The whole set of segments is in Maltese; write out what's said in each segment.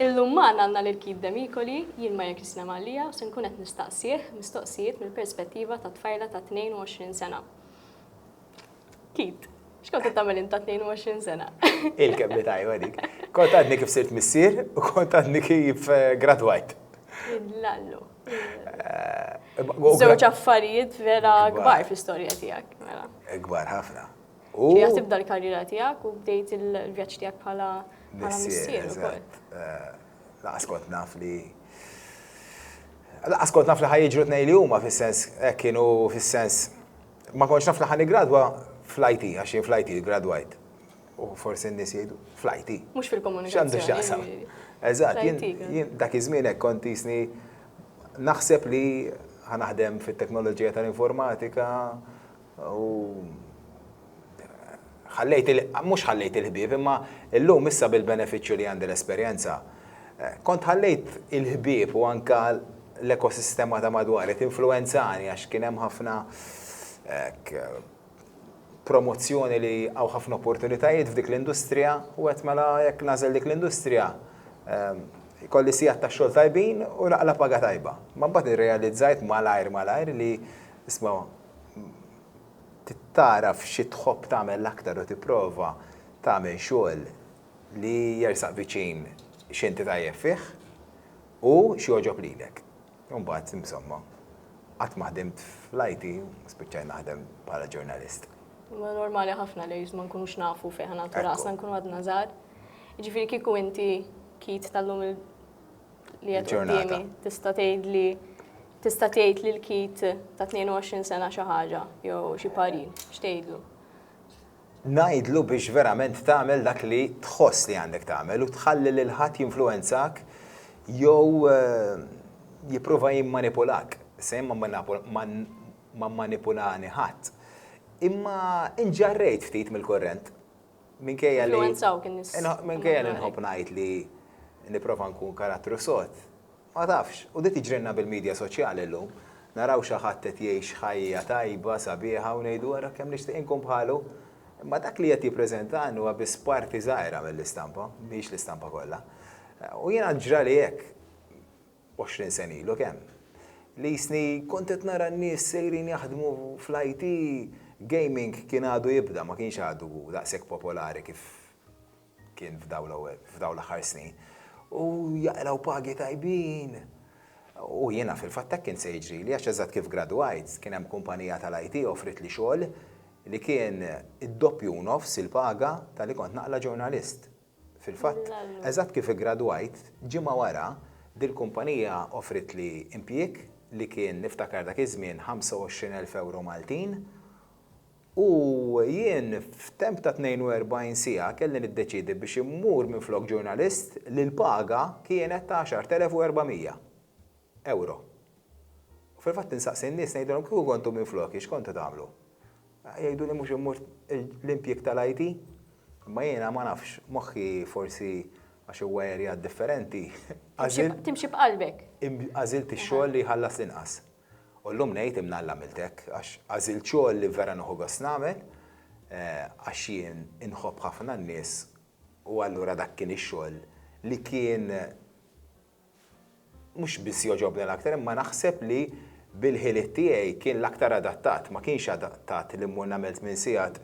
Illum magħna għandna lil Keith Demicoli, jien ma jekk jislem għalija u se nkun qed nistaqsih mistoqsijiet mill-perspettiva ta' tfajla ta' 22 sena. Keith, x'kont qed tagħmel int ta' 22 sena? Il-kelma tajba dik. Kont għadni kif sirt missier u kont għadni kif eh, gradwajt. Lallu. Eh, Żewġ affarijiet vera kbar fl-istorja tiegħek. Mela. Kbar ħafna. U Ġejja tibda l-karriera tiegħek u bdejt il-vjaġġ tiegħek bħala bħala missier ukoll. Eh, laqas kont naf li Laqas kont naf li ħajġru tnej li huma fis-sens eh, kienu fis-sens ma kontx naf li ħani gradwa fl-IT għax jien fl-IT gradwajt. U forsi n-nies jgħidu fl-IT. Mhux fil-komunikazzjoni. X'għandu x'jaqsam. Eżatt, jien dak iż-żmien hekk kont jisni naħseb li ħanaħdem fit-teknoloġija tal-informatika, U ħallejt il mhux ħallejt il-ħbieb, imma llum issa bil-benefiċċju li għandi l-esperjenza, kont ħallejt il-ħbieb u anke l-ekosistema ta' madwari tinfluwenzani għax kien hemm ħafna hekk promozzjoni li hawn ħafna opportunitajiet f'dik l-industrija u għedt mela jekk nagħżel dik l-industrija jkolli sigħat ta' xogħol tajbin u naqla' paga tajba. Imma mbagħad irrealizzajt malajr malajr li isma' tagħraf xi tħobb tagħmel l-aktar u tipprova tagħmel xogħol li jersaq viċin x'inti tajjeb fih u x'jogħġob lilek. Imbagħad, insomma, qatt ma ħdimt fl-IT, spiċċajt naħdem bħala ġurnalist. Huwa normali ħafna li ma nkunux nafu fejn ħanatu rasna nkunu għadna żgħar. Jiġifieri kieku inti kid tal-lum li qed qudiemi tista' tgħid li tista' tgħid li l-kid ta' 22 sena xi ħaġa jew xi parir, x'tgħidlu? Ngħidlu biex verament tagħmel dak li tħoss li għandek tagħmel u tħalli lil ħadd jinfluwenzak jew eh, jipprova jimmanipulak. Se ma manipulani ħadd. Imma inġarrejt ftit mill-korrent. Minkejja li. Influenzawk in-nies. Minkejja li nħobb ngħid li nipprova nkun karattru sod, ma tafx, u din tiġrilna bil-midja soċjali llum. Naraw xi ħadd qed jgħix ħajja tajba, sabiħa u ngħidu ara kemm nixtieq inkun bħalu. Imma dak li qed jippreżenta Ann huwa biss parti żgħira mill-istampa, mhix l-istampa kollha. U jiena ġrali hekk. 20 sena ilu, kemm? L-isni kont qed nara n-nies sejrin jaħdmu fl-IT, gaming kien għadu jibda, ma kienx għadu daqshekk popolari kif kien f'dawn l-aħħar snin, u jaqilgħu pagi tajbin. U jiena fil-fatt hekk kien se jiġrili għax eżatt kif gradwajt, kien hemm kumpanija tal-IT offritli xogħol li kien id-doppju u nofs il-paga ta' li kont naqla' ġurnalist. Fil-fatt, eżatt kif iggradwajt, ġimgħa wara, dil-kumpanija offritli impjieg li kien, niftakar dak iż-żmien, 25,000 ewro Maltin, u jien f'temp ta' 42 siegħa kelli niddeċiedi biex immur minflok ġurnalist li l-paga kienet ta' 10,400. Ewro. U fil-fatt insaqsi n-nies ngħidilhom kieku kontu minfloki x'kontu tagħmlu? Jgħiduli mhux immur l-impjieg tal-IT. Imma jiena ma nafx, moħħi forsi għax huwa area differenti, għażilt. Timxi b'qalbek. Għażilt ix-xogħol li jħallas l-inqas. U llum ngħid imna Alla għamilt hekk għax għażilt xogħol li vera nieħu gost nagħmel għax jien inħobb ħafna n-nies u allura dak kien ix-xogħol li kien mhux biss jogħġobni l-aktar imma naħseb li bil-ħiliet tiegħi kien l-aktar adattat. Ma kienx adattat li mmur nagħmel tmien sigħat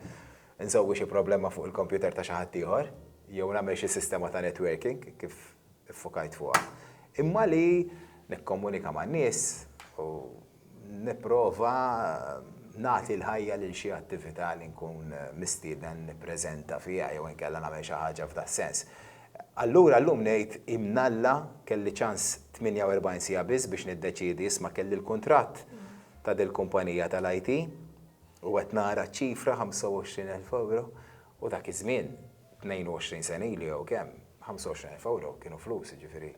insolvi xi problema fuq il-kompjuter ta' xi ħadd ieħor jew nagħmel xi sistema ta' networking kif iffokajt fuqha. Imma li nikkomunika man-nies u. Nipprova nagħti l-ħajja lil xi attività li nkun mistieden nippreżenta fiha jew inkella nagħmel xi ħaġa f'das-sens. Allura llum ngħid imnalla kelli ċans 48 siegħa biss biex niddeċiedi, isma' kelli l-kuntratt ta' dil-kumpanija tal-IT u qed nara ċ-ċifra 25 elf ewro u dak iż-żmien, 22 sena ilu jew kemm, 25 elf ewro kienu flus, jiġifieri.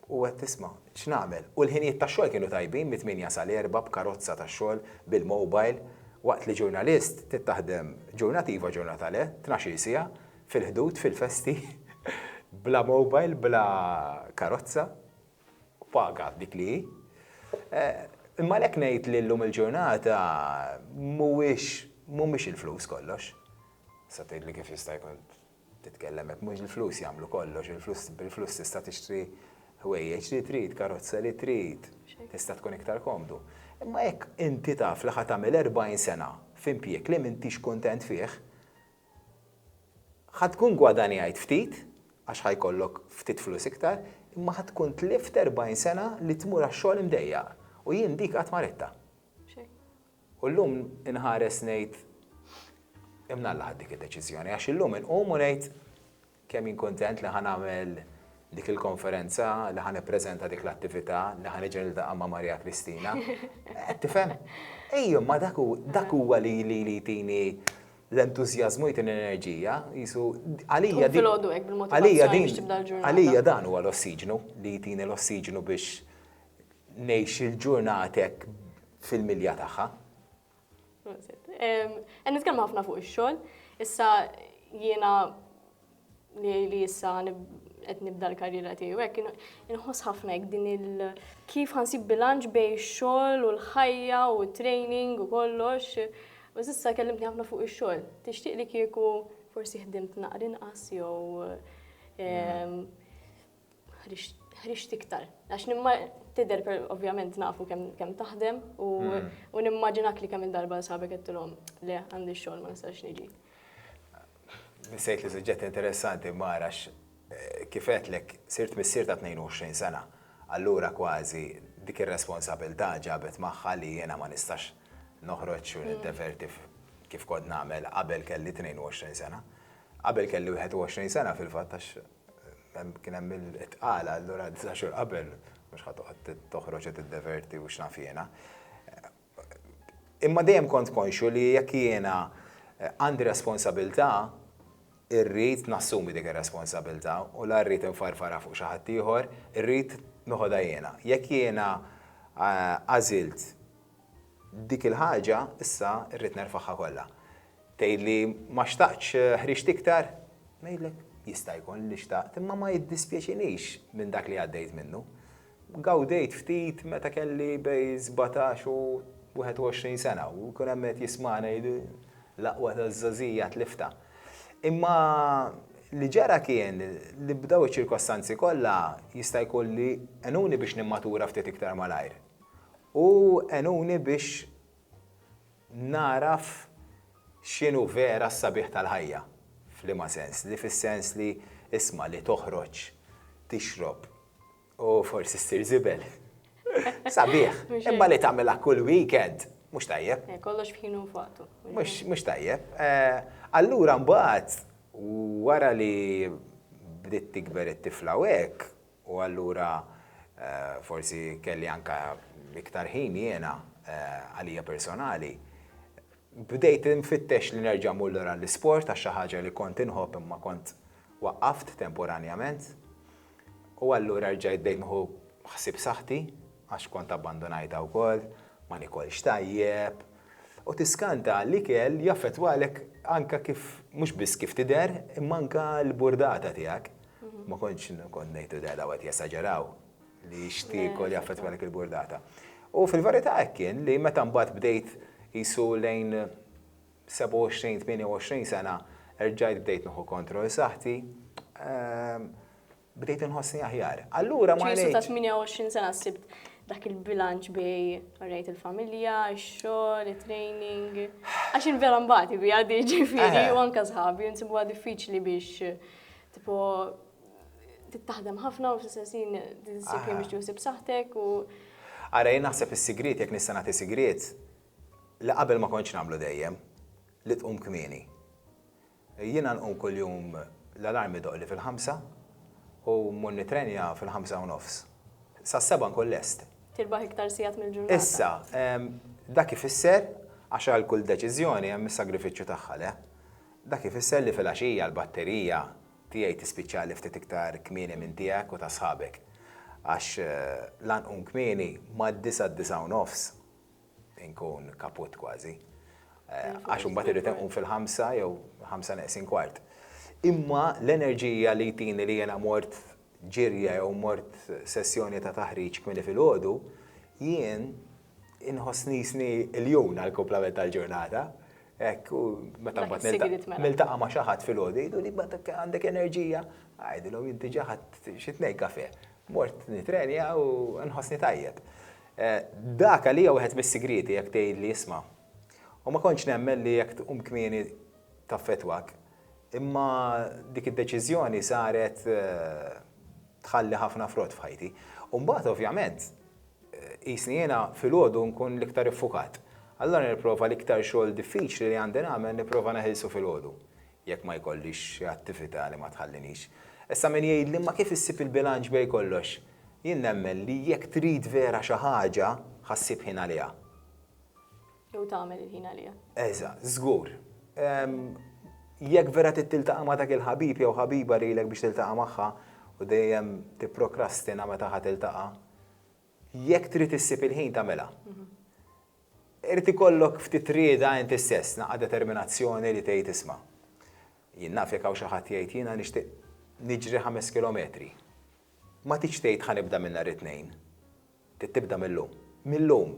U għedt, Isma', x'nagħmel? U l-ħinijiet tax-xogħol kienu tajbin, mit-tmienja sal-erbgħa b'karozza tax-xogħol, bil-mobile, waqt li ġurnalist trid taħdem ġurnata iva ġurnata le, tnax-il siegħa, fil-ħdud, fil-festi, bla mobile, bla karozza, u paga dik li hi. Imma għalhekk ngħid li llum il-ġurnata mhuwiex, mhumiex il-flus kollox. Tista' tgħidli kif jista' jkun Titkellem hekk mhux il-flus jagħmlu kollox, il-flus bil-flus tista' tixtri ħwejjeġ li trid, karozza li trid, tista' tkun iktar komdu. Imma jekk inti taf li ħa tagħmel erbgħin sena f'impjieg li m'intix kuntent fih, ħa tkun gwadanjajt ftit għax ħa jkollok ftit flus iktar, imma ħa tkun tlift erbgħin sena li tmur għax-xogħol imdejjaq. U jien dik qatt m'għarittha. U llum inħares ngħid, imnalla ħadt dik id-deċiżjoni, għax illum inqum u ngħid kemm jien kuntent li ħa nagħmel dik il-konferenza, li ħa nippreżenta dik l-attività, li ħa niġi niltaqa' ma' Marija Kristina. Qed tifhem? Ejja, imma dak huwa li jtini l-entużjażmu, jtini l-enerġija, qisu għalija din. Filgħodu hekk bil-motivazzjoni biex tibda l-ġurnata. Għalija dan huwa l-ossiġnu li jtini l-ossiġnu biex Ngħix il-ġurnat hekk fil-milja tagħha. Qed nitkellmu ħafna fuq ix-xogħol. Issa jiena li issa qed nibda l-karriera tiegħi hekk inħoss ħafna hekk din il kif ħansib bilanċ bejn ix-xogħol u l-ħajja u t-training u kollox. U s'issa kellimtni ħafna fuq ix-xogħol. Tixtieq li kieku forsi ħdimt naqra inqas jew ħriġt iktar. Għax nimma tidher ovvjament nafu kemm taħdem hmm. u nimmaġinak li kemm il-darba sabek għettilhom le għandi xogħol ma nistax niġi. Nisejt li suġġett interessanti mara għax eh, kifet lek sirt missier ta' 22 sena. Allura kważi dik ir-responsabilità ġabet magħha li jiena ma nistax noħroġ u hmm. niddeverti kif kod nagħmel qabel kelli 22 sena. Qabel kelli 21 sena fil-fatt għax Kien hemm il-tqala, allura disa' xhur qabel mhux ħa toqgħod toħroġ u tiddeverti u x'naf jiena. Imma dejjem kont konxju li jekk jiena għandi responsabilità, irrid nassumi dik ir-responsabilità u la rrid infarfarha fuq xi ħadd ieħor, irrid noħodha jiena. Jekk jiena għażilt Dik il-ħaġa issa rrid nerfagħha kollha. Tgħidli ma xtaqtx ħriġt iktar? Ngħidlek, jista' jkun li xtaqt imma ma jiddispjaċinix minn dak li għaddejt minnu. Gawdejt ftit meta kelli bej sbatax u wieħed u għoxrin sena u jkun hemm qed jismagħna jgħidu l-aqwa taż-żgħożija tliftha. Imma li ġara kien li b'daw iċ-ċirkostanzi kollha jista' jkun li għenuni biex nimmatura ftit iktar malajr. u għenuni biex nagħraf x'inhu vera s-sabiħ tal-ħajja. F'liema sens? Li fis-sens li, isma', li toħroġ, tixrob u forsi ssir żibel. Sabiħ, imma li tagħmilha kull weekend, mhux tajjeb. Eh, kollox f'ħinu u f'waqtu. Mhux tajjeb. Eh, allura mbagħad wara li bdiet tikber it-tifla u hekk, U allura forsi kelli anke iktar ħin jiena għalija personali. Bdejt infittex li nerġa' mmur lura għall-isport għax xi ħaġa li kont inħobb imma kont waqqaft temporanjament. U allura rġajt bdejt nieħu ħsieb saħħti għax kont abbandunajtha wkoll, ma nikolx tajjeb. U tiskanta l-ikel jaffettwalek anke kif, mhux biss kif tidher, imma anke l-burdata tiegħek. Ma kontx kont ngħid li daw qed jesaġeraw li xtieku li jaffettwa dik il-burdata. U fil-verità hekk kien li meta mbagħad bdejt qisu lejn 27-28 sena erġajt bdejt nieħu kontroll saħħti, ehm, bdejt inħossni aħjar. Allura ma ngħidx. ta' 28 sena sibt dak il-bilanċ bej rejt il-familja, ix-xogħol, it-training. Għax vera mbagħad ibi għaddi ġifieri eh. u anke sħabi nsibuha diffiċli biex Tipo, tittaħdem ħafna u fl-istess ħin tinsib li mhix tiħsib saħtek u. Ara jien naħseb is-sigriet jekk nista' nagħti sigriet li qabel ma kontx nagħmlu dejjem li tqum kmieni. Jiena nqum kuljum l-alarm idoqli fil-ħamsa u mmur nitrenja fil-ħamsa u nofs. Sa seba nkun lest. Tirbaħ iktar sigħat mill-ġurnata. Issa, dak ifisser għax għal kull deċiżjoni hemm is-sagrifiċċju tagħha le. Dak ifisser li filgħaxija l-batterija tiegħi tispiċċali ftit iktar kmieni minn tiegħek u ta' sħabek. Għax la nqum kmieni, mad-disgħa d-disgħa u nofs inkun kaput kważi. Għax imbagħad irrid inqum fil-ħamsa jew ħamsa neqsin kwart. Imma l-enerġija li jtini li jiena mort ġirja jew mort sessjoni ta' taħriġ kmieni filgħodu, jien inħoss nisni iljun għall-kumplament tal-ġurnata. Hekk, u meta mbagħad niltaqa' ma' xi ħadd filgħodu jgħidu li għandek enerġija, għidilhom jien diġà ħadd xi tnejn kafè. Mort nittrenja u nħossni tajjeb. Eh, dak għalija wieħed mis-sigrieti jekk tgħidli isma'. U ma kontx nemmen li jekk tqum kmieni taffetwak. Imma dik id-deċiżjoni saret eh, tħalli ħafna frott f'ħajti. U mbagħad ovvjament Qisni jiena filgħodu nkun l-iktar iffukat. Allura nipprova l-iktar xogħol diffiċli li għandi nagħmel nipprova neħilsu filgħodu, jekk ma jkollix xi attività li ma tħallinix. Issa min jgħidli imma kif issib il-bilanċ bejn kollox? Jien nemmen li jekk trid vera xi ħaġa, ħa ssib ħin għaliha. Jew tagħmel il-ħin għaliha. Eżatt, żgur. Jekk vera trid tiltaqa' ma' dak il-ħabib jew ħabiba li ilek biex tiltaqa' magħha u dejjem tipprokrastina meta ħa tiltaqa', jekk trid issib il-ħin tagħmilha. Irid ikollok ftit rieda inti stess, naqra determinazzjoni li tgħid isma'. Jien naf jekk hawn xi ħadd jgħid jiena nixtieq niġri ħames kilometri. Ma tridx tgħid ħa nibda minn nhar it-Tnejn. Trid tibda mil-lum. Mil-lum.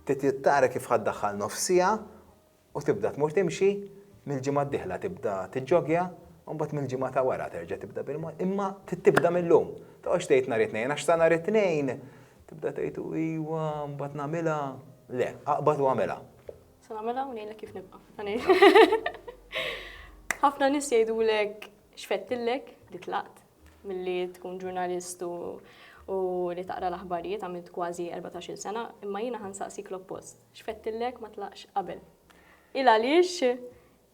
Trid tara kif ħa ddaħħal nofs siegħa u tibda tmur timxi, mill-ġimgħa d-dieħla tibda tiġġogja, u mbagħad mill-ġimgħa ta' wara terġa' tibda bil-mod. Imma trid tibda mil-lum. Toqgħodx tgħid nhar it-Tnejn għax sa nhar it-Tnejn tibda tgħid u iwa, mbagħad nagħmilha. Le, aqbad u agħmilha. Se nagħmilha u ngħidlek kif nibqa'. Ħafna nies jgħidulek x'fettilek li tlaqt. milli tkun ġurnalist u li taqra l-aħbarijiet għamilt kważi 14-il sena, imma jiena ħa nsaqsik l-oppost. X'fettillek ma tlaqx qabel? Il għaliex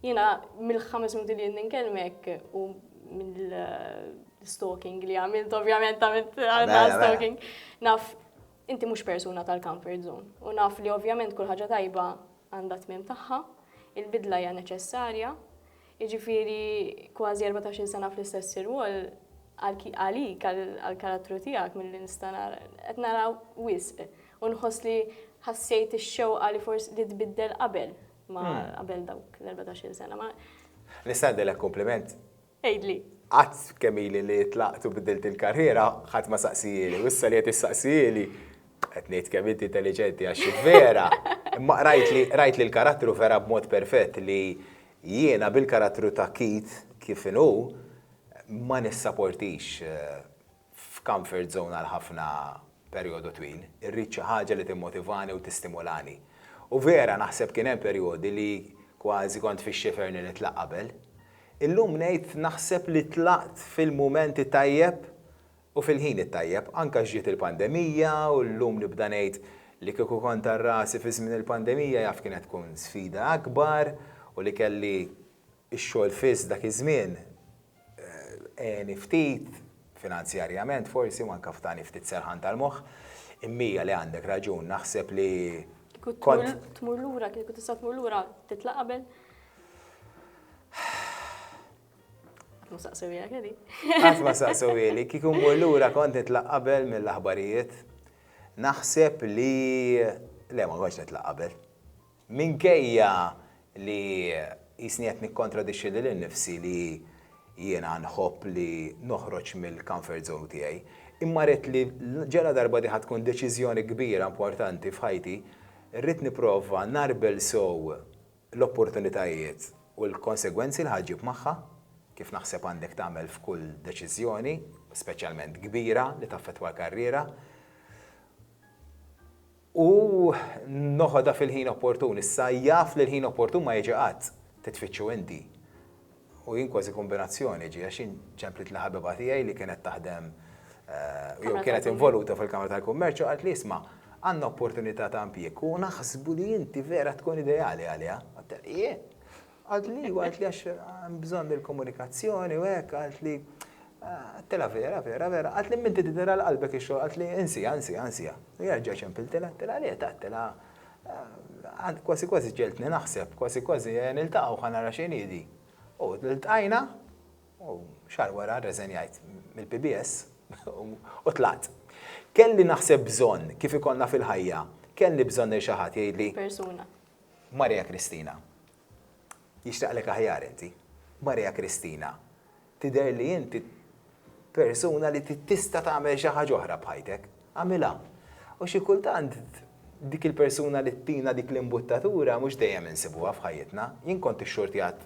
jiena mill-ħames minuti li jien nkellmek u mill-stalking li għamilt ovvjament għamilt stalking. Naf inti mhux persuna tal-comfort zone u naf li ovvjament kull ħaġa tajba għandha tmiem tagħha, il-bidla hija neċessarja, jiġifieri kważi erbatax-il sena fl-istess irwol, għalik, għall-karattru tiegħek milli nista' nara, qed nara wisq u nħoss li ħassejt ix-xewqa li forsi li tbiddel qabel ma qabel dawk l-erbatax-il sena. Ma. Nista' ngħiddilek kumpliment? Għidli. Qatt kemm ili li tlaqt u biddilt il-karriera, ħadd ma saqsieli u issa li qed issaqsieli, qed ngħid kemm inti intelliġenti għax vera, imma rajt li rajt li l-karattru vera b'mod perfett li Jiena bil-karattru ta' Keith kif inhu ma nissaportix f'comfort zone għal ħafna perjodu twil. Irrid xi ħaġa li timmotivani u tistimulani. U vera naħseb kien hemm perjodi li kważi kont fix-xifer li nitlaq qabel. Illum ngħid naħseb li tlaqt fil-mument it-tajjeb U fil-ħin it-tajjeb, anke ġiet il-pandemija u llum nibda ngħid li kieku kont għal rasi fi żmien il-pandemija jaf kienet tkun sfida akbar u li kelli x-xogħol fiss dak iż-żmien għeni ftit, finanzjarjament forsi u anke tani ftit serħan tal-moħħ. Immija li għandek raġun, naħseb li kont. Kieku tmur lura, kieku tista' tmur lura titla' qabel? Ma saqsewija kelli. Qatt ma saqsewili, kieku mmur lura kont nitlaq qabel mill-aħbarijiet. Naħseb li le ma kontx nitlaq qabel. Minkejja li jisni qed nikkontradixxi lil innifsi li jiena nħobb li noħroġ mill-comfort zone tiegħi, imma ridt li ġela darba din ħa tkun deċiżjoni kbira importanti f'ħajti, rrid nipprova narbel sew l-opportunitajiet u l-konsegwenzi li ħa ġġib magħha, kif naħseb għandek tagħmel f'kull deċiżjoni, speċjalment kbira li taffettwa l-karriera, u noħodha fil-ħin opportun. Issa jaf li l-ħin opportun ma jiġi qatt, trid tfittxu inti. U jien kważi kombinazzjoni ġie għax jien ċemplit li ħabiba tiegħi li kienet taħdem jew kienet involuta fil-Kamra tal-Kummerċ u qalt li isma' għandna opportunità ta' impjieg u naħsbu li inti vera tkun ideali għaliha. Għedtilha jien. Qalt li iva, qalt li għax hemm bżonn il-komunikazzjoni u hekk, qalt li għedtilha vera, vera, vera, qalt li minn inti tidhirha qalbek ix-xogħol, qalt li insiha, insiha, insiha. U jien reġa' ċempiltilha, għedtilha le, għedtilha Għad kważi kważi ġegħeltni naħseb, kważi kważi niltaqgħu ħa nara x'inhi di. U ltqajna u xahar wara rreżenjajt mill-PBS u tlaqt. Kelli naħseb bżonn kif ikollna fil-ħajja, kelli bżonn lil xi ħadd jgħidli. Persuna. Maria Kristina. jixtaqlek aħjar inti. Maria Kristina, tidher li inti persuna li tista' tagħmel xi ħaġa oħra b'ħajtek. Agħmilha. U xi kultant dik il-persuna li ttina dik l-imbuttatura mhux dejjem insibuha f'ħajjitna. Jien kont ix-xorti għad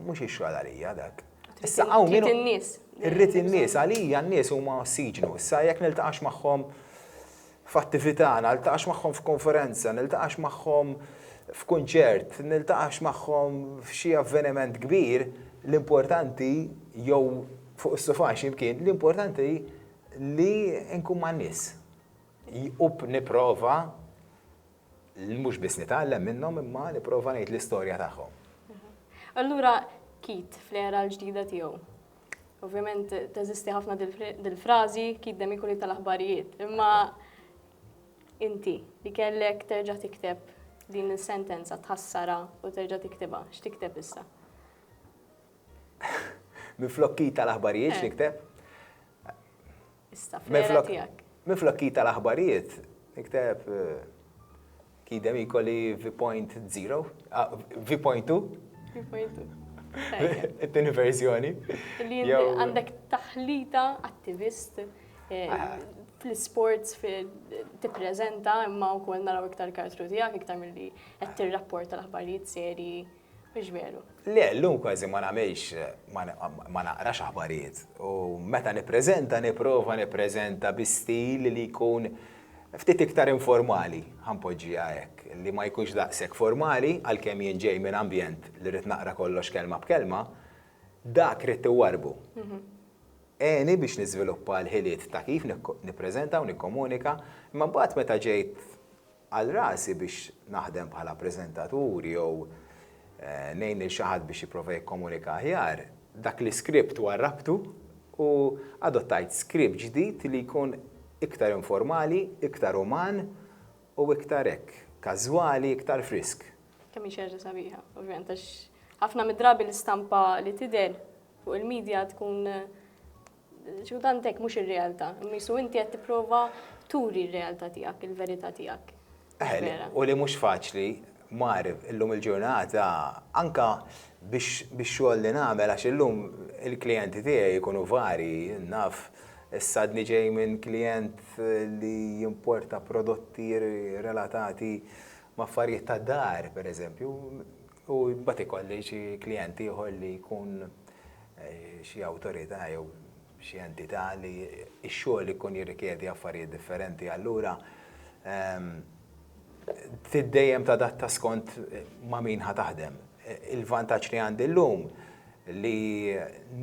Mhux ix-xogħol għalija dak. Issa hawn min. Irrid in-nies. Irrid in-nies għalija n-nies huma ossiġnu. Issa jekk niltaqax magħhom f'attività, niltaqax magħhom f'konferenza, niltaqax magħhom f'kunċert, niltaqax magħhom f'xi avveniment kbir, l-importanti jew fuq is-sufa x'imkien, l-importanti li nkun man-nies. U nipprova li mhux biss nitgħallem minnhom imma nipprova ngħid l-istorja tagħhom. Allura Kit fl-era l-ġdida tiegħu. Ovvjament teżisti ħafna dil-frażi Kit Demikuli tal-aħbarijiet, imma inti li kellek terġa' tikteb din is-sentenza tħassara u terġa' tiktibha, x'tikteb issa? Miflok Kit tal-aħbarijiet eh. x'tikteb? Issa, fl-era tiegħek. Minflok kid tal-aħbarijiet, nikteb kid hemm ikolli V.0, V.2. V.2. It-tieni verżjoni. Li għandek taħlita attivist fl-sports tippreżenta imma wkoll naraw iktar kartru tiegħek iktar milli qed tirrapporta l-aħbarijiet serji. Mhux veru. Le, llum kważi ma nagħmilx ma naqrax aħbarijiet u meta nippreżenta nipprova nippreżenta bi stil li jkun ftit iktar informali, ħa npoġġiha hekk, li ma jkunx daqshekk formali għalkemm jien ġej minn ambjent li rrid naqra kollox kelma b'kelma, dak ridt iwarrbu. Għeni biex niżviluppa l-ħiliet ta' kif nippreżenta u nikkomunika, imma mbagħad meta ġejt Għal rasi biex naħdem bħala preżentatur jew ngħin lil xi ħadd biex jipprova jikkomunika aħjar, dak l-iskript warrabtu u adottajt skript ġdid li jkun iktar informali, iktar uman u iktar hekk, każwali, iktar frisk. Kemm hi xi ħaġa sabiħa, ovvjament, għax ħafna mid-drabi l-istampa li tidher fuq il-media tkun X'kultant hekk mhux ir-realtà, imma qisu inti qed tipprova turi r-realtà tiegħek, il-verità tiegħek. U li mhux faċli, mar, illum il-ġurnata, anke biex bix-xogħol li nagħmel, għax illum il-klijenti tiegħi jkunu varji, naf, issa għadni ġej minn klijent li jimporta prodotti relatati ma' affarijiet tad-dar, pereżempju, U mbagħad ikolli xi klijent ieħor li jkun xi awtorità jew xi entità li x-xogħol ikun jirrikjedi affarijiet differenti. Allura trid dejjem tadatta skont ma' min ħa taħdem. Il-vantaġġ li għandi llum li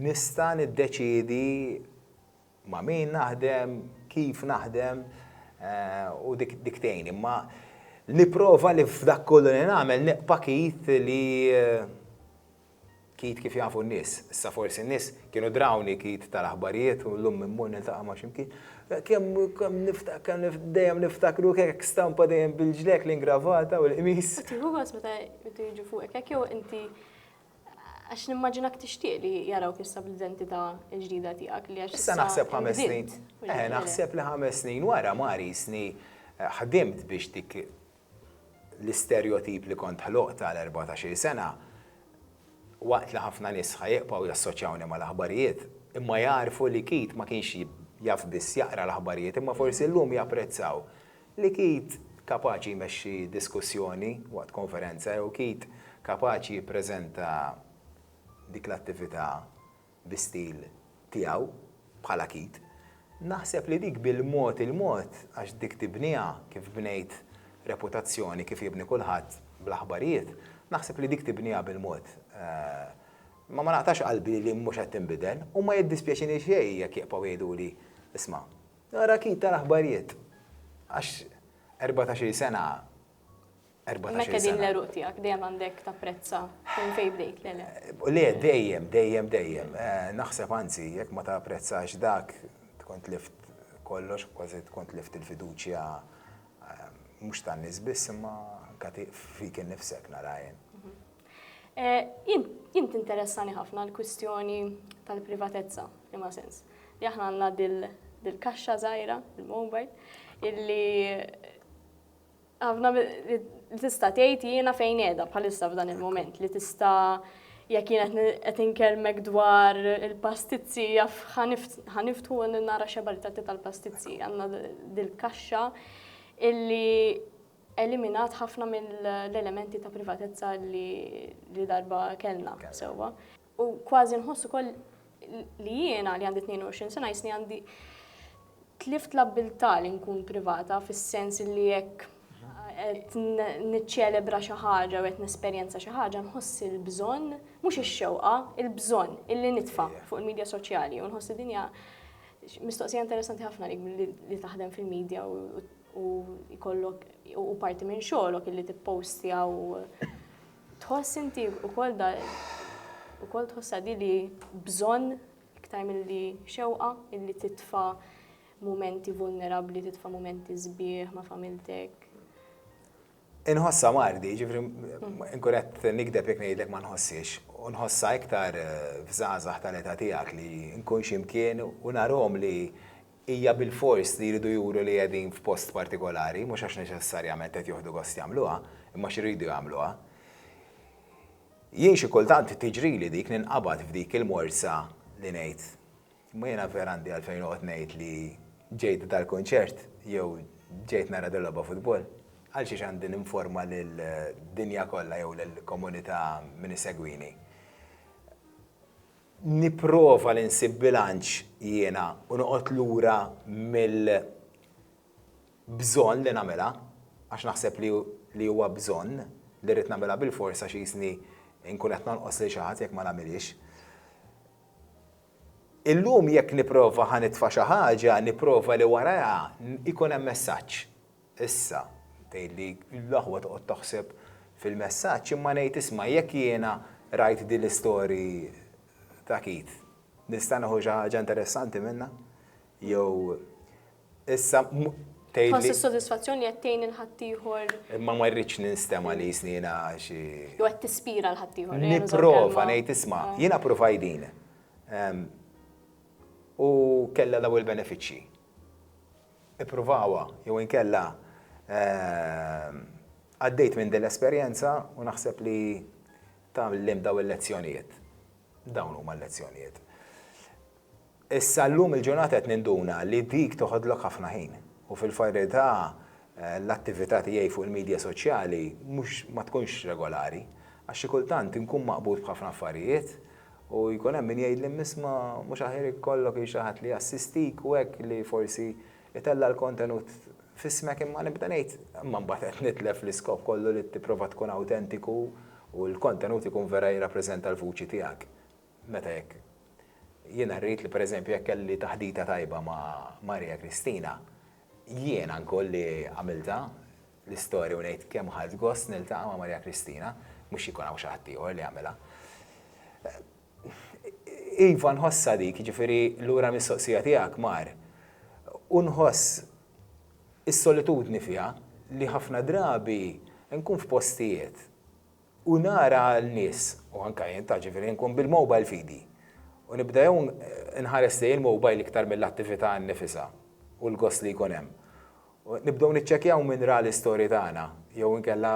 nista' niddeċiedi ma' min naħdem, kif naħdem u dik tgħin. Imma nipprova li f'dak kollu li nagħmel neqpa' Keith li Keith kif jafu n-nies. Issa forsi n-nies kienu drawni Keith tal-aħbarijiet u llum immur niltaqa' ma' x'imkien. Kemm niftakar dejjem niftakru hekk stampa dejjem bil-ġlek l-ingravata u l-qmis. Tieħu gost meta jiġu fuqek hekk jew inti Għax nimmaġinak tixtieq li jarawk issa bl-identità l-ġdida tiegħek li għax. Issa naħseb ħames snin. Eh, naħseb li ħames snin wara ma risni eh, ħdimt biex dik l-isterjotip li kont ħloqt għal 14 sena waqt li ħafna nies ħajqpaw jassoċjawni mal-aħbarijiet, imma jarfu li kit ma kienx jaf biss jaqra l-aħbarijiet, imma forsi llum japprezzaw Li kid kapaċi jmexxi diskussjoni waqt konferenza jew kid kapaċi jippreżenta dik l-attività bi stil tiegħu, bħala kid, naħseb li dik bil-mod il-mod għax dik tibniha kif bnejt reputazzjoni, kif jibni kulħadd bl-aħbarijiet, naħseb li dik tibniha bil-mod. Imma ma naqtax qalbi li mhux qed tinbidel u ma jiddispjaċini xejn jekk jibqgħu jgħiduli, isma', Nara kit tal-aħbarijiet. Għax 14 sena. 14 Mekka din l-eruq tijak, dejjem għandek ta' prezza fejn fejn bdejt, le le. Le, dejjem, dejjem, dejjem. Eh, naħseb anzi, jek ma ta' prezza għax dak, tkont lift kollox, kważi tkont lift il-fiduċja eh, mux ta' nisbiss, ma kati fik nifsek narajn. Eh, jien tinteressani ħafna l-kwistjoni tal-privatezza, imma sens. Li aħna għandna dil-kaxxa żgħira, il-mobile, illi għafna li tista' tgħid jiena fejn qiegħda bħalissa f'dan il-moment li tista' jekk jien qed inkelmek dwar il-pastizzi jaf ħaniftu nara xebaritati tal-pastizzi għandna dil-kaxxa illi eliminat ħafna mill-elementi ta' privatezza li darba kellna sewwa. U kważi nħoss ukoll li jiena li għandi 22 sena jisni għandi tlift l-abbiltà li nkun privata fis-sens li jekk qed niċċelebra xi ħaġa u qed nesperjenza xi ħaġa nħoss il-bżonn, mhux ix-xewqa, il-bżonn illi nitfa' fuq il-medja soċjali u nħoss li din hija mistoqsija interessanti ħafna li taħdem fil-medja u u jkollok u parti minn xogħolok illi tippostja u tħoss inti wkoll da wkoll tħossha di li bżonn iktar milli xewqa illi titfa' mumenti vulnerabbli, titfa' mumenti sbieħ ma' familtek. Inħossa mardi, ġifri, inkuret nikdeb jek nejdlek ma nħossix, u nħossa iktar eh, f'zazah tal-eta tijak li nkun ximkien u narom li hija bilfors li jridu juru li qegħdin f'post partikolari, mhux għax neċessarjament qed joħdu gost jagħmluha, imma għax iridu jagħmluha. Jien xi kultant tiġrili dik, ninqabad f'dik il-morsa li ngħid, imma jiena vera għandi għalfejn noqgħod ngħid li ġejt dal-kunċert jew ġejt nara dil-logħba futbol? Għalxiex għandi ninforma lid-dinja kollha jew lill-komunità min isegwini? nipprova li nsib bilanċ jiena u noqgħod lura mill bżonn li nagħmilha, għax naħseb li li huwa bżonn, li rrid nagħmilha bilfors għax qisni nkun qed nonqos lil xi ħadd jekk ma nagħmilhiex. Illum jekk nipprova ħa nitfa' xi ħaġa, nipprova li warajha ikun hemm messaġġ. Issa, tgħidli, l-aħwa toqgħod taħseb fil-messaġġ, imma ngħid isma' jekk jiena rajt din l-istory ta' Keith, nista' nieħu xi ħaġa interessanti minnha? Jew issa tgħidli. Tħoss is-sodisfazzjon li qed tgħin lil ħaddieħor. Imma ma rridx ninstema' li jisni jiena xi. Jew qed tispira lil ħaddieħor. Nipprova ngħid isma' jiena provajt din. U kellha dawn il-benefiċċji. ippruvawha jew inkella għaddejt minn din l-esperjenza u naħseb li tgħallimt dawn il-lezzjonijiet. Dawn huma l-lezzjonijiet. Issa llum il-ġurnata qed ninduna li dik toħodlok ħafna ħin u fil-verità l-attività tiegħi fuq il-midja soċjali mhux ma tkunx regolari għax xi kultant inkun maqbud b'ħafna affarijiet U jkun hemm min jgħidli, Mmisma' mhux aħjar ikollok il xi ħadd li jassistik u hekk li forsi jtella' l-kontenut f'ismek imma nibda ngħid, imma mbagħad qed nitlef l-iskop kollu li tipprova tkun awtentiku u l-kontenut ikun vera jirrappreżenta l-vuċi tiegħek. Meta jekk jiena rrid li pereżempju jekk kelli taħdita tajba ma' Maria Kristina, jiena nkoll li għamiltha, l-istorja u ngħid kemm ħadt gost niltaqa' ma' Marija Kristina, mhux jkun hawn xi ħadd ieħor li jagħmilha. Iva nħossha dik, jiġifieri lura mistoqsija tiegħek mar, u nħoss is-solitudni fiha li ħafna drabi nkun f'postijiet u nara l-nies, u anke jien ta' ġifieri nkun bil-mobile f'idi, u nibda jew nħares lejn il-mobile iktar mill-attività nnifisha u l-gost li jkun hemm. Nibdew niċċekkjaw min ra l-istory tagħna jew inkella.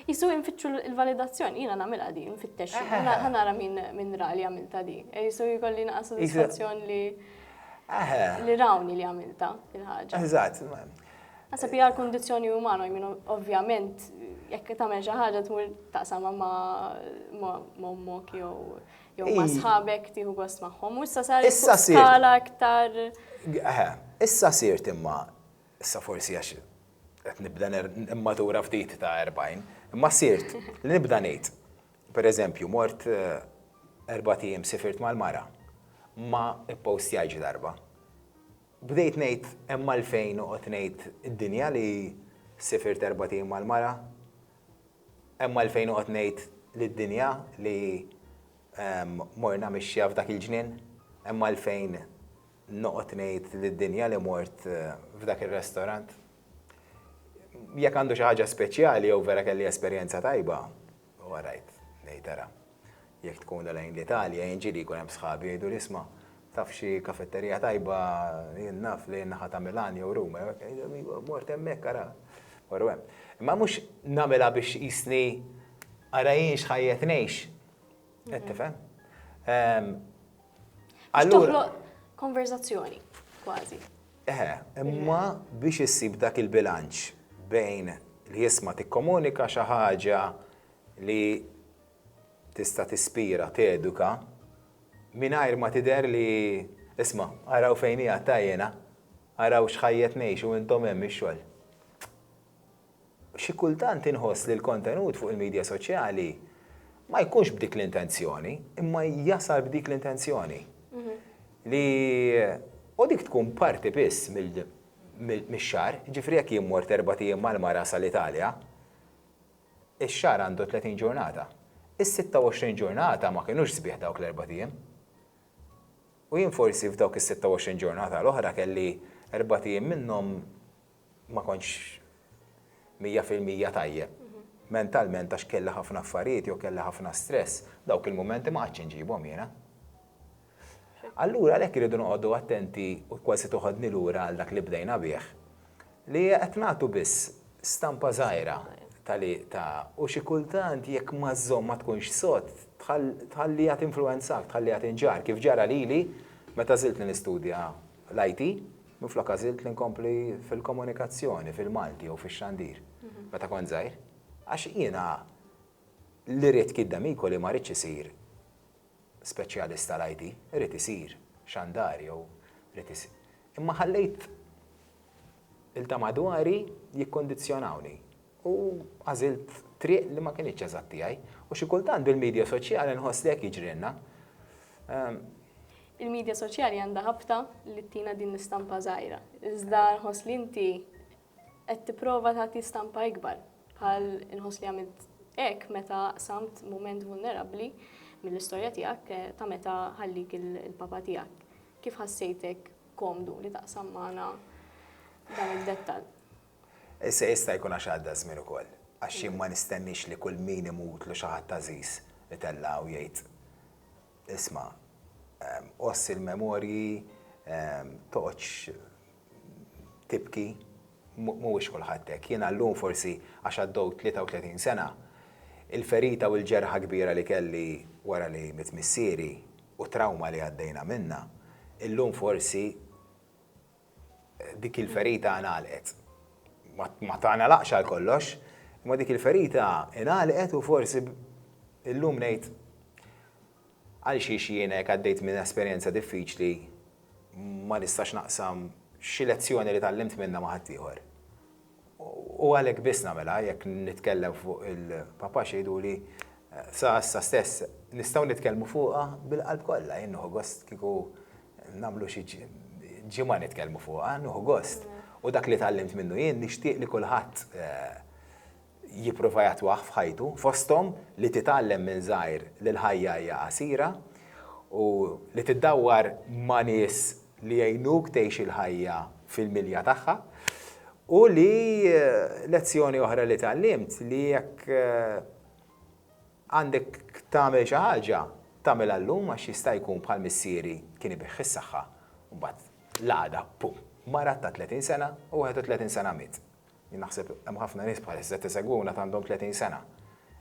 Qisu infittxu l-validazzjoni, jiena nagħmilha din, infittex ħa nara min ra li għamiltha di. Qisu jkolli naqa' sodisfazzjon li rawni li għamiltha il-ħaġa. Eżatt. Naħseb hija l-kundizzjoni umana, jmien ovvjament jekk tagħmel xi ħaġa tmur taqsam ma' ommok jew jew ma' sħabek tieħu gost magħhom. U issa sar skala aktar. Issa sirt imma issa forsi għax qed nibda immatura ftit ta' 40, imma sirt li nibda ngħid. Per eżempju, mort eh, erba' tim sifirt mal-mara ma ippostjajġ darba. Bdejt ngħid hemm għalfejn noqgħod ngħid id-dinja li sifirt erbat ijiem mal-mara? Hemm għalfejn noqgħod ngħid lid-dinja li morna mixja f'dak il-ġnien? Hemm għalfejn noqgħod ngħid lid-dinja li mort f'dak ir-restorant? Jekk għandu xi ħaġa speċjali jew vera kelli esperjenza tajba, U għarajt, ngħid ara, jekk tkun da lejn l-Italja, jien ġieli jkun hemm sħabi jgħiduli isma' taf xi kafetterija tajba jien naf lejn naħa ta' Milan jew Ruma, iva mort hemmhekk ara, morru hemm. Imma mhux nagħmilha biex tqisni ara jien x'ħajjet ngħix. Qed tifhem? Ehm, Biex toħloq konverzazzjoni, kważi. Eħe, imma biex issib dak il-bilanċ bejn li jisma' tikkomunika xi ħaġa li tista' tispira, teduka, mingħajr ma tidher li, isma', araw fejn hija t-tajjena, araw x'ħajjet ngħixu intom hemm ix-xogħol. Xi kultant inħoss li l-kontenut fuq il-midja soċjali ma jkunx b'dik l-intenzjoni, imma jasal b'dik l-intenzjoni. Li u dik tkun parti biss mix-xahar, jiġifieri jekk jien mort erbat ijiem mal-mara sal-Italja, ix-xahar għandu 30 ġurnata. Is-sitta u għoxrin ġurnata ma kinux sbieħ dawk l-erbat ijiem. U jien forsi f'dawk is-sitta u għoxrin ġurnata l-oħra kelli erbat ijiem minnhom ma kontx mija fil-mija tajjeb mentalment għax kelli ħafna affarijiet jew kelli ħafna stress, dawk il-mumenti ma għadx inġibhom jiena. Allura għalhekk iridu noqogħdu attenti u kważi toħodni lura għal dak li bdejna bih li qed nagħtu biss stampa żgħira tali ta' u xi kultant jekk ma żżomm ma tkunx sod tħalliha tinfluwenzak, tħalliha tinġar kif ġara lili meta żilt nistudja l-IT Minflok għażilt li nkompli fil-komunikazzjoni fil-Malti jew fix-xandir meta kont żgħir, għax jiena li ridt giddem hi koli ma ridtx isir speċjalist tal-IT, ridt isir xandar jew ridt isir. Imma ħallejt il-ta' madwari jikkondizzjonawni. U għażilt triq li ma kinitx eżatt tiegħi. U xi kultant bil-media soċjali nħoss li hekk jiġrilna. Il-media soċjali għandha ħabta li ttina din l-istampa żgħira. Iżda nħoss li inti qed tipprova tagħti stampa ikbar. Bħal inħoss li għamilt hekk meta samt mument vulnerabbli mill-istorja tiegħek eh, ta' meta ħallik il-papa tiegħek. Kif ħassejtek komdu li taqsam magħna dan id-dettall? Issa jista' jkun għax għadda ż-żmien ukoll, għax jien ma nistenniex li kull min imutlu xi ħadd għażiż itella' u jgħid, Isma', għossi l-memorji, toqgħodx tibki, mhuwiex kulħadd hekk. Jiena llum forsi għax għaddew 33 sena, il-ferita u l-ġerħa kbira li kelli wara li miet missieri u trawma li għaddejna minnha, illum forsi dik il-ferita ngħalqet. Ma tagħlaqx għal kollox, imma dik il-ferita ngħalqet u forsi illum ngħid għal xiex jiena jekk għaddejt minn esperjenza diffiċli ma nistax naqsam xi lezzjoni li tallimt minnha ma' ħaddieħor. U għalhekk biss nagħmilha jekk nitkellem fuq il-Papa xi jgħiduli, sa issa stess nistgħu nitkellmu fuqha bil-qalb kollha. Jien nieħu gost kieku nagħmlu xi ġimgħa nitkellmu fuqha, nieħu gost. U dak li tgħallimt minnu jien nixtieq li kulħadd jipprova jattwah f'ħajtu, fosthom li titgħallem minn żgħir li l-ħajja hija qasira u li tiddawwar ma' nies li jgħinuk tgħix il-ħajja fil-milja tagħha, u li lezzjoni oħra li tgħallimt li jekk għandek tagħmel xi ħaġa, tagħmilha llum għax jista' jkun bħal missieri kien ibigħ is-saħħa u mbagħad l-għada, pum, marat ta' 30 sena u 31 sena miet. Jien naħseb hemm ħafna nies bħalissa qed isegwuna għad għandhom 30 sena.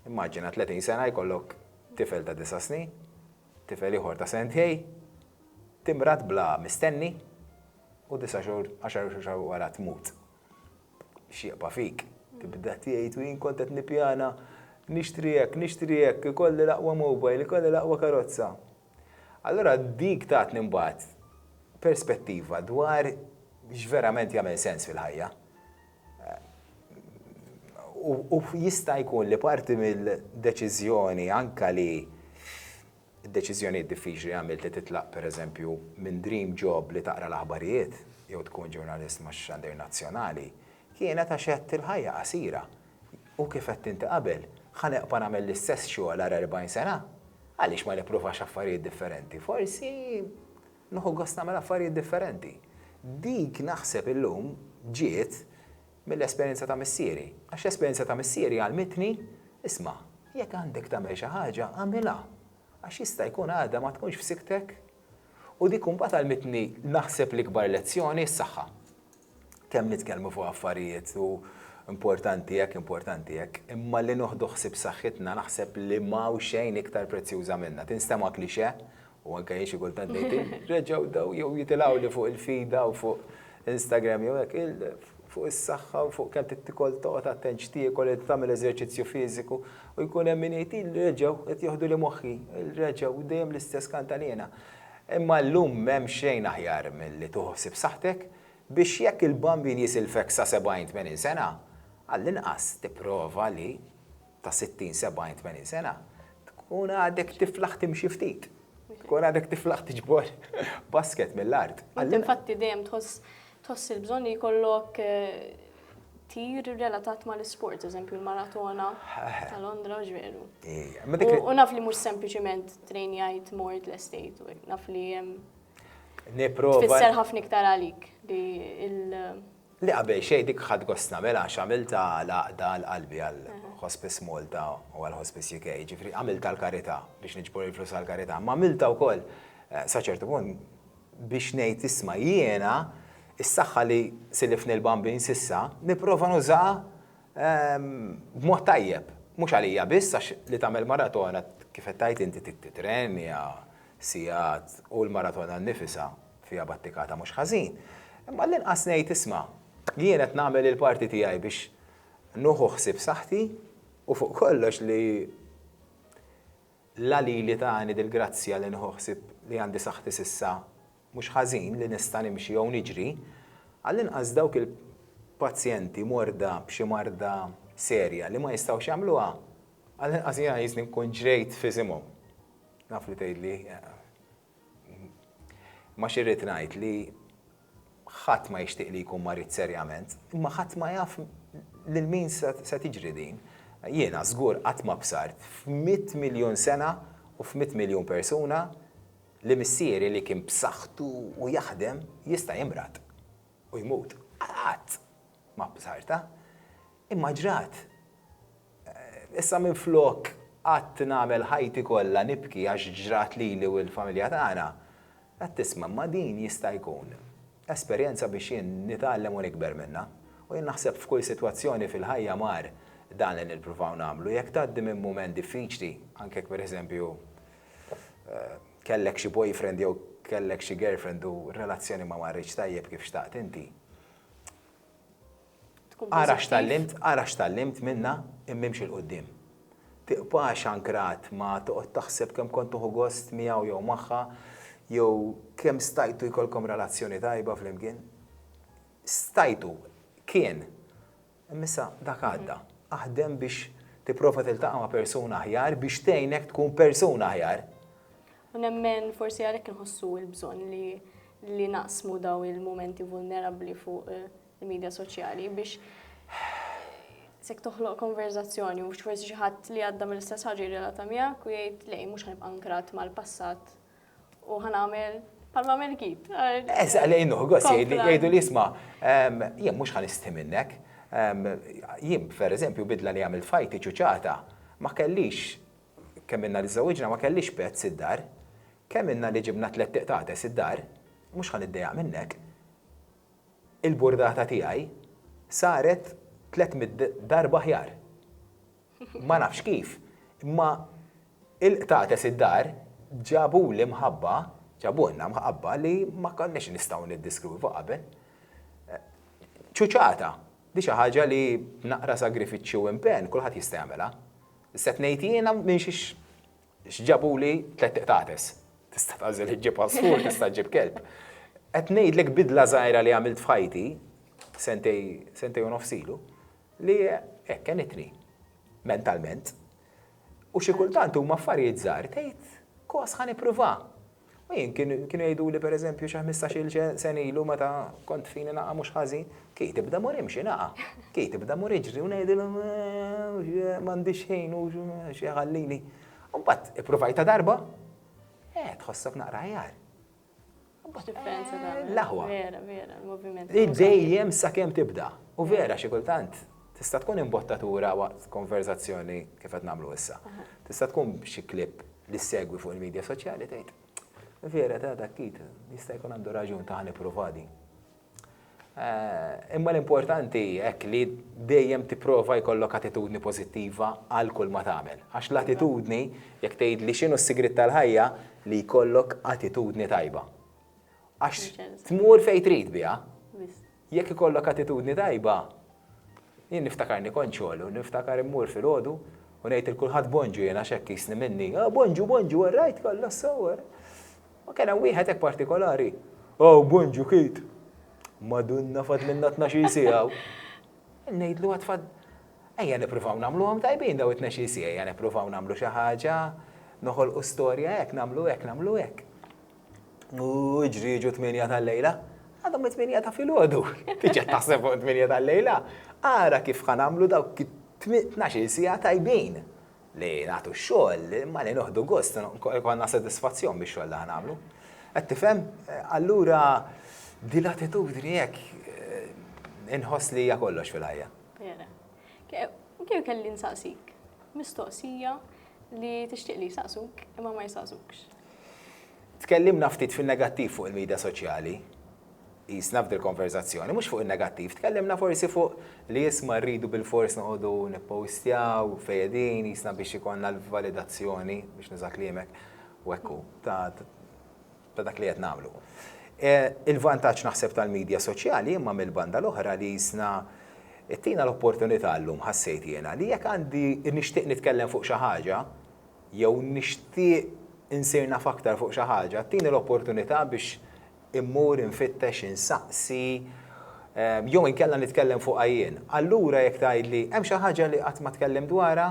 Immaġina 30 sena jkollok tifel ta' disa' snin. Tifel ieħor ta' sentejn, timrad bla mistenni u disa' xhur, għaxar xhur xahar wara tmut. X'jieqpa' fik? Tibda tgħid u jien kont qed nippjana nixtri hekk, nixtri hekk, ikolli l-aqwa mobile, ikolli l-aqwa karozza. Allura dik tatni mbagħad perspettiva dwar x'verament jagħmel sens fil-ħajja. U jista' jkun li parti mill-deċiżjoni anke li d-deċiżjonijiet diffiċli għamilt li titlaq pereżempju minn dream job li taqra l-aħbarijiet jew tkun ġurnalist ma' xandir nazzjonali kienet għax għedt il-ħajja qasira u kif għedt inti qabel, ħa nibqa' nagħmel l-istess xogħol għal 40 sena? Għaliex ma nippruvax affarijiet differenti? Forsi Nieħu gost nagħmel affarijiet differenti. Dik naħseb illum ġiet mill-esperjenza ta' missieri. Għax l-esperjenza ta' missieri għallmitni, Isma', jekk għandek tagħmel xi ħaġa, agħmilha, għax jista' jkun għada ma tkunx f'sikktek. U dik imbagħad għallmitni naħseb l-ikbar lezzjoni, s-saħħa. kemm nitkellmu fuq affarijiet u importanti hekk, importanti hekk, imma li noħdu ħsieb saħħitna naħseb li m'hawn xejn iktar prezzjuża minnha. Tinstema' klixe, u anke jien xi kultant ngħid, reġgħu daw jew jitilgħu li fuq il-fida u fuq Instagram jew hekk, fuq is-saħħa u fuq kemm trid tikol, toqgħod attent x'tiekol, li tagħmel eżerċizzju fiżiku, u jkun hemm min jgħid, reġgħu qed joħduli moħħi, reġgħu, dejjem l-istess kantaniena. Imma llum m'hemm xejn aħjar milli tieħu ħsieb saħħtek biex jekk il-bambin jisilfek sa 70, 80 sena, għall-inqas tipprova li ta' 60, 70, 80 sena tkun għadek tiflaħ timxi ftit. Tkun għadek tiflaħ tiġbor basket mill-art. Int infatti dejjem tħoss tħoss il-bżonn li jkollok tir relatat ma l-sport, eżempju l-maratona ta' Londra u ġveru. U naf li mux sempliciment train jajt mort l-estate, u naf li jem. Niprofa. Fisser ħafna iktar għalik li il- Li qabel xej dik ħad gosna mela xamilta laqda l-qalbi għal Hospice Malta u għal Hospice UK, ġifri għamilta l-karita biex nġbor il-flus għal-karita, ma għamilta u koll, eh, saċertu punt Biex ngħid isma' jiena, is-saħħa li silifni l-Bambin s'issa, nipprova nużaha b'mod tajjeb. Mhux għalija biss għax li tagħmel maratona, kif qed tgħid inti trid titrenja sigħat u l-maratona nnifisha fiha battikata mhux ħażin. Imma għall-inqas ngħid isma' jien qed nagħmel il-parti tiegħi biex nieħu ħsieb saħħti u fuq kollox li La lili tani dil-grazzja li nieħu ħsieb li għandi saħħti s'issa mhux ħażin, li nista' nimxi jew niġri, għall-inqas dawk il-pazjenti morda b'xi marda serja li ma jistgħux jagħmluha, għall-inqas jgħiżni nkun ġrejt f'isimhom. Naf li tgħidli, Imma xi rrid ngħid li ħadd ma jixtieq li jkun marid serjament, imma ħadd ma jaf lil min se tiġri din. Jiena żgur qatt ma bsart f'mitt miljun sena u f'mitt miljun persuna li missieri li kien b'saħħtu u jaħdem jista' jimrad u jmut. Qatt! Ma' b'sarta. Imma ġrat. Issa minflok qgħadt nagħmel ħajti kollha nibki għax ġrat lili u lill-familja tagħna, qed tisma', imma din jista' jkun esperjenza biex jien nitgħallem u nikber minnha. U jien naħseb f'kull sitwazzjoni fil-ħajja mar dan li nippruvaw nagħmlu. Jekk tgħaddi minn mument diffiċli, anke jekk pereżempju kellek xi boyfriend jew kellek xi girlfriend u r-relazzjoni ma marritx tajjeb kif xtaqt inti, Ara x'tallimt, ara x'tallimt minnha imma imxi 'l quddiem. Tibqax ankrat ma toqgħod taħseb kemm kont tieħu gost miegħu jew magħha jew kemm stajtu jkollkom relazzjoni tajba flimkien. Stajtu, kien. Imma issa dak għadda. Aħdem biex tipprova tiltaqa' ma' persuna aħjar biex tgħinek tkun persuna aħjar. U nemmen forsi għalhekk inħossu l-bżonn li li naqsmu dawn il-mumenti vulnerabbli fuq il-medja soċjali biex sek toħloq konverzazzjoni u forsi xi ħadd li għadda mill-istess ħaġa jirrelata miegħek u jgħid lej mhux ħanibqa' nkrat mal-passat U ħan għamil palma mel kit. Eż, għalej nuħgos, jgħidu li jisma, jien mux ħan isti minnek. Jien, per eżempju, bidla li għamil fajti ċuċata, ma kellix, kemm inna li zawiġna, ma kellix pezz id-dar, kemm inna li ġibna tlet tiqtates id-dar, mux ħan id-dejaq minnek. Il-burdata tijaj saret tlet mid darba ħjar. Ma nafx kif, imma il-qtates id-dar ġabuli mħabba, ġabulna mħabba li ma konniex nistgħu niddiskrwivu qabel. Ċuċata, di xi ħaġa li b'naqra sagrifiċċju u impenn kulħadd jista' jagħmilha. Sett ngħid jiena minn x'ġabuli tlett qtates. Tista' tagħżel iġġib għasfur, tista' ġġib kelb. Qed ngħidlek bidla żgħira li għamilt f'ħajti sentejn u nofs ilu. Li hekk għenitni, mentalment. U xi kultant huma affarijiet żgħar tgħid, kos ħa nippruva. U jien kienu jgħiduli pereżempju xi ħmistax-il sen ilu meta kont fini naqa' mhux ħażin, kej tibda mur imxi naqa', kej tibda mur iġri u ngħidilhom m'għandix ħin u xi ħallini. U mbagħad ippruvajtha darba, eh tħossok naqra aħjar. L-aħwa. Vera, vera, il-moviment. Dejjem sa kemm tibda. U vera xi kultant tista' tkun imbottatura waqt konverzazzjoni kif qed nagħmlu issa. Tista' tkun xi clip li ssegwi fuq il-media soċjali tgħid, Vera ta' dak Keith jista' jkun għandu raġun ta' ħa nipprova din. Imma l-importanti hekk li dejjem tipprova jkollok attitudni pożittiva għal kull ma tagħmel. Għax l-attitudni, jekk tgħidli x'inhu s-sigriet tal-ħajja, li jkollok attitudni tajba. Għax tmur fejn trid biha. Jekk ikollok attitudni tajba, jien niftakarni kont xogħol u niftakar immur filgħodu u ngħid il kulħadd bonġu jiena x'hekk jisni minni. Ah, bonġu, bonġu, rajt kollha s-sewwer. Ma kien hemm wieħed hekk partikolari? Aw, bon ġukiet! Madunna fadlilna tnax-il siegħa u. Ngħidlu għad fad. Ejja nippruvaw nagħmluhom tajbin daw it-tnax-il siegħa, ejja nippruvaw nagħmlu xi ħaġa, noħolqu storja hekk, nagħmlu hekk, nagħmlu hekk. U iġri jiġu t-tmienja tal-lejla. Għadhom it-tmienja ta' filgħodu. Tiġi taħseb fuq it-tmienja tal-lejla. Ara kif ħa nagħmlu dawk it-tnax-il siegħa tajbin. Li nagħtu x-xogħol, imma li noħdu gost, ikollna sodisfazzjon bix-xogħol li ħa nagħmlu. Qed tifhem? Allura din l-attitudni hekk inħoss li hija kollox fil-ħajja. Vera. Kien kelli nsaqsik mistoqsija li tixtieq li jsaqsuk imma ma jsaqsukx. Tkellimna ftit fin-negattiv fuq il-midja soċjali. Qisna f'dil konverżazzjoni mhux fuq in-negattiv, tkellimna forsi fuq li isma' rridu bilfors noqogħdu nippostjaw fejn qegħdin qisna biex ikollna l-validazzjoni, biex nuża kliemek, u hekk hu, ta' dak li qed nagħmlu. Il-vantaġġ naħseb tal-midja soċjali imma mill-banda l-oħra li qisna ttina l-opportunità llum ħassejt jiena li jekk għandi nixtieq nitkellem fuq xi ħaġa jew nixtieq insir naf aktar fuq xi ħaġa, tini l-opportunità biex immur infittex, insaqsi, jew inkella nitkellem fuqha jien. Allura jekk tgħidli, hemm xi ħaġa li qatt ma tkellimt dwarha?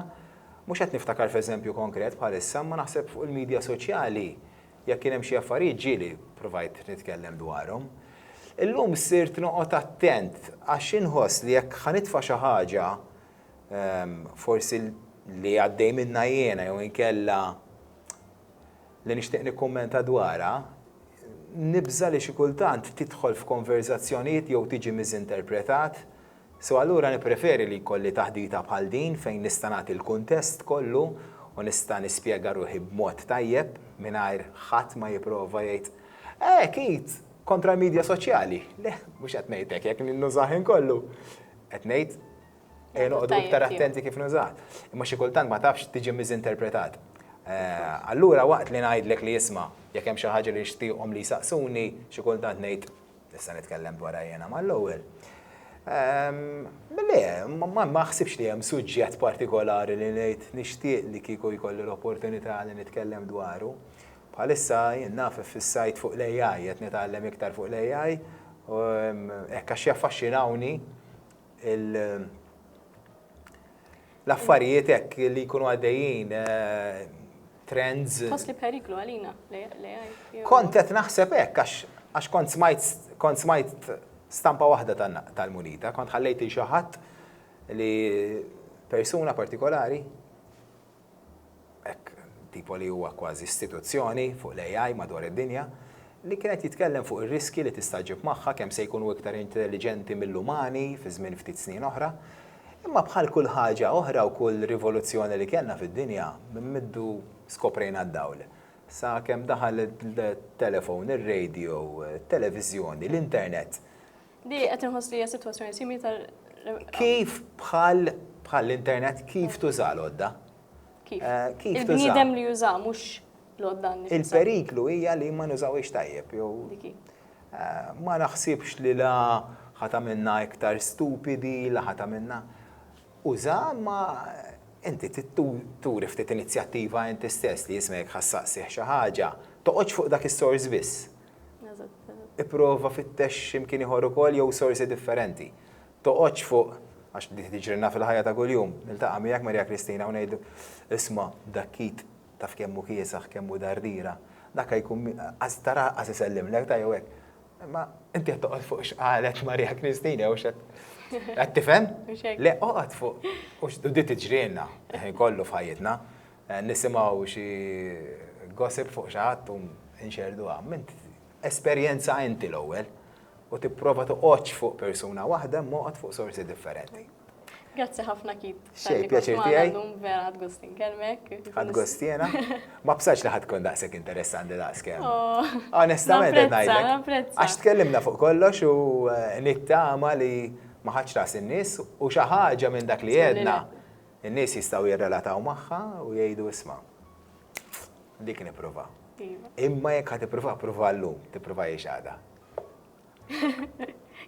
Mhux qed niftakar f'eżempju konkret bħalissa, imma naħseb fuq il-midja soċjali jekk kien hemm xi affarijiet ġieli ppruvajt nitkellem dwarhom. Illum sirt noqgħod attent għax inħoss li jekk ħa nitfa' xi ħaġa forsi li għaddej minnha jiena jew inkella li nixtieq nikkummenta dwarha, nibża' li xi kultant tidħol f'konverżazzjonijiet jew tiġi miżinterpretat, so allura nippreferi li jkolli taħdita bħal din fejn nista' nagħti l-kuntest kollu u nista' nispjega ruħi b'mod tajjeb mingħajr ħadd ma jipprova jgħid, Hekk id! Kontra l-midja soċjali! Le, mhux qed ngħid hekk jekk ninnużah ħin kollu. Qed ngħid, Eh, noqdu iktar attenti kif nużat. Imma xi kultant ma tafx tiġi miżinterpretat. Eh, allura waqt li ngħidlek li jisma' jekk hemm xi ħaġa li jixtieqhom li jsaqsuni, xi kultant ngħid nista' nitkellem dwar jiena mal-ewwel. Ehm, le, ma ħsibx li hemm suġġett partikolari li ngħid nixtieq li kieku jkolli l-opportunità li nitkellem dwaru. Bħalissa jien naf fis-sajt fuq l-AI, qed nitgħallem iktar fuq l-AI, ehm, hekk għax jaffaxxinawni l-affarijiet hekk li jkunu għaddejjin trends. Tħoss li periklu għalina l-AI? Kont qed naħseb hekk għax kont smajt kont smajt stampa waħda tal-munita, kont ħallejt il xi ħadd li persuna partikolari hekk tipo li huwa kważi istituzzjoni fuq l-AI madwar id-dinja, li kien qed jitkellem fuq ir-riskji li tista' ġġib magħha, kemm se jkunu iktar intelliġenti mill-umani fi żmien ftit snin oħra. Imma bħal kull ħaġa oħra u kull rivoluzzjoni li kellna fid-dinja, minn middu skoprejna d-dawl. Sa kemm daħal it-telephone, ir-radio, it-televiżjoni, l-internet, Li qed inħoss li hija sitwazzjoni simili ta' Kif bħal bħal l-internet kif tuża l-odda? Kif? Eh, Il-bniedem li juża mhux l-odda Il-periklu hija li ma nużawiex tajjeb jew eh, ma naħsibx li la ħata minna iktar stupidi, la ħata minna. Uża ma inti turi ftit inizjattiva inti stess li jismek ħassaqsih xi ħaġa, toqgħodx fuq dak is-sors biss. Ipprova fittex xi mkien ieħor ukoll jew sorsi differenti. Toqgħodx fuq, għax din tiġrilna fil-ħajja ta' kuljum, niltaqa' miegħek Maria Kristina u ngħidlu, isma' dak id taf kemm hu kiesaħ, kemm hu dardiera, dak a jkun qas tara qas isellimlek ta' jew hekk. Imma inti qed toqgħod fuq x'qalet Maria Kristina jew x'qed qed tifhem? Le oqgħod fuq u din tiġrilna ħin kollu f'ħajjitna. Nisimgħu xi gossip fuq xi ħadd u nxerrduha. M'int esperjenza inti l-ewwel u tipprova toqgħodx fuq persuna waħda imma oqgħod fuq sorsi differenti. Grazzi ħafna Keith. Xejn, pjaċir tiegħi. Vera għad gost inkellmek. Għad gost jiena. Ma bsaċ li ħadd tkun daqshekk interessanti daqskemm. Oh. Onestament qed ngħidlek. Għax tkellimna fuq kollox u eh, nittama li ma ħadx ras in-nies u xi ħaġa minn dak li għedna In-nies jistgħu jirrelataw magħha u jgħidu isma', dik nipprova. Imma jekk ħa tipprova, prova llum, tipprova jiex għada.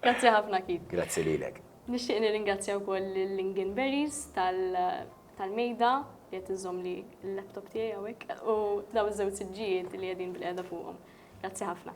Grazzi ħafna Keith. Grazzi lilek. Nixtieq nirringrazzja wkoll lil Lingen Berries tal-mejda li qed iżomm li l-laptop tiegħi hawnhekk u dawn iż-żewġ siġġijiet li qegħdin bil-qiegħda fuqhom. Grazzi ħafna.